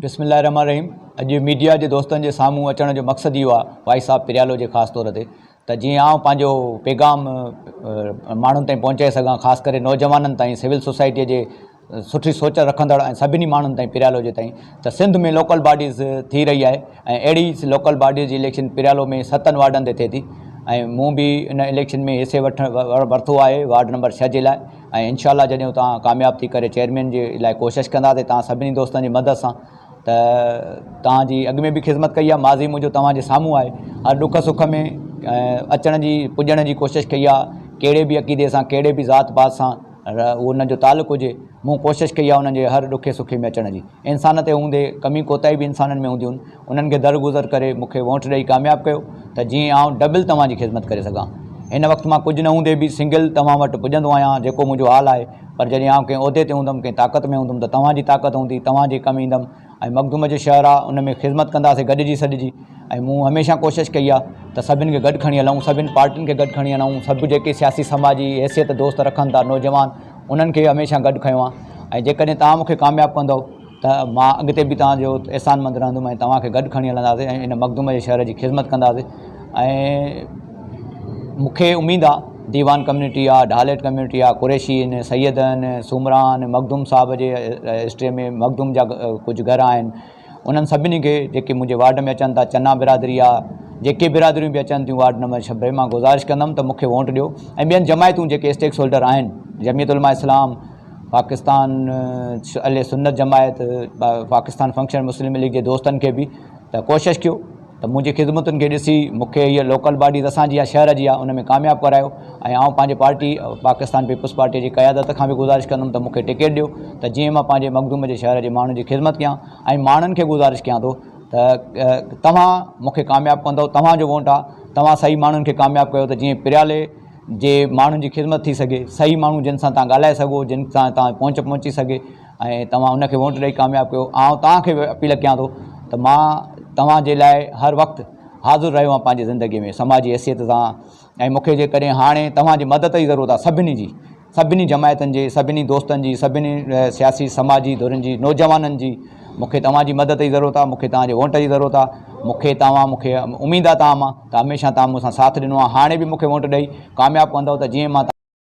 بسم الله الرحمٰن الرحيم اڄ ميڊيا جي دوستن جي سامهون اچڻ جو مقصد اهو آهي وائي صاحب پريالو جي خاص طور تي ته جيئن آئون پنهنجو پيغام ماڻهن تائين پهچائي سگهان خاص ڪري نوجوانن تائين سول سوسائٽي جي سٺي سوچ رکندڙ ۽ سڀني ماڻهن تائين پريالو جي تائين ته سنڌ ۾ لوڪل باڊيز ٿي رهي آهي ۽ اهڙي لوڪل باڊيز جي اليڪشن پريالو ۾ ستن وارڊن تي ٿئي ٿي ۽ مون به ان اليڪشن ۾ حصي وٺ ورتو آهي وارڊ نمبر ڇهه جي لاء ۽ انشاء الله جڏهن اتان ڪامياب ٿي ڪري چيئرمين جي لاء ڪوشش ڪنداسي توهان سڀني دوستن جي مدد سان ته توهان جي اڳ ۾ به خدمت ڪئي آهي ماضي منهنجو توهان جي سامهون آهي هر ڏک سک ۾ اچڻ جي پڄڻ جي ڪوشش ڪئي آهي ڪهڙي به عقيدي سان ڪهڙي به ذات پات سان ان جو تعلق هجي مون ڪوشش ڪئي آهي انهن جي هر ڏکي سکي ۾ اچڻ جي انسان تي هوندي ڪمي ڪوتاهي به انسانن ۾ هونديون انهن کي درگذر ڪري مون کي وونٽ ڏئي ڪامياب ڪيو ته جيئن آئون ڊبل توهان جي خدمت ڪري سگهان. هن وقت مان ڪجهه نه هوندي به سنگل توهان وٽ پڄندو آهيان جيڪو منهنجو حال آهي پر جڏهن آئون ڪنهن عهدي تي هوندم ڪنهن طاقت ۾ هوندم ته توهان جي طاقت هوندي توهان جي ڪم ايندم ۽ مخدوم جو شهر آهي ان ۾ خدمت ڪنداسين گڏجي سڏجي ۽ مون هميشه ڪوشش ڪئي آهي ته سڀن کي گڏ کڻي هلون سڀن پارٽين کي گڏ کڻي هلون سڀ جيڪي سياسي سماجي حيثيت دوست رکن ٿا نوجوان انهن کي هميشه گڏ کنيو آهي ۽ جيڪڏهن توهان مون کي ڪامياب ڪندؤ ته مان اڳتي به توهان جو احسان مند رهندم ۽ توهان کي گڏ کڻي هلنداسين ۽ ان مخدوم جي شهر جي خذمت ڪنداسين ۽ مون کي اميد آ ديوان ڪميونٽي آ ڍاليٽ ڪميونٽي آ قريشي ان سيدن سومران مخدوم صاحب جي هسٽري ۾ مخدوم جا ڪجهه گهر آهن انهن سڀني کي جيڪي منهنجي وارڊ ۾ اچن ٿا چنا برادري آ جيڪي برادريون به اچن ٿيون وارڊ نمبر ڇبي مان گذارش ڪندم ته مون کي وونٽ ڏيو ۽ ٻين جماعتون جيڪي اسٽيڪس هولڊر آهن جميعت علماء اسلام پاڪستان اھل سنت جماعت پاڪستان فنڪشن مسلم ليگ جي دوستن کي به ته ڪوشش ڪيو ته منهنجي خدمتن کي ڏسي مونکي هيء لوڪل باڊي ته اسان جي آهي شهر جي آهي ان ۾ ڪامياب ڪرايو ۽ آئون پنهنجي پارٽي پاڪستان پيپلز پارٽي جي قيادت کان به گذارش ڪندم ته مونکي ٽڪيٽ ڏيو ته جيئن مان پنهنجي مخدوم جي شهر جي ماڻهن جي خدمت ڪيان ۽ ماڻهن کي گذارش ڪيان ٿو ته توهان مونکي ڪامياب ڪندؤ توهان جو وونٽ آهي توهان صحيح ماڻهن کي ڪامياب ڪيو ته جيئن پريالي جي ماڻهن جي خدمت ٿي سگهي، صحيح ماڻهو جن سان توهان ڳالهائي سگهو، جن سان توهان جي پهچ پهچي سگهي ۽ توهان ان کي ووٽ ڏئي ڪامياب ڪيو، آئون توهان کي به اپيل ڪيان ٿو ته مان توهان جي لاء هر وقت حاضر رهيو آهيان پنهنجي زندگي ۾ سماجي حيثيت سان ۽ مون کي جيڪڏهن هاڻي توهان جي مدد جي ضرورت آهي سڀني جي، سڀني جماعتن جي، سڀني دوستن جي، سڀني سياسي سماجي ڌرين جي، نوجوانن جي، مون کي توهان جي مدد جي ضرورت آهي، مون کي توهان جي وونٽ جي ضرورت آهي، مون کي توهان مون کي اميد آهي توهان مان ته هميشه توهان مون سان ساٿ ڏنو آهي، هاڻي به مون کي وونٽ ڏئي ڪامياب ڪندؤ ته جيئن مان توهان.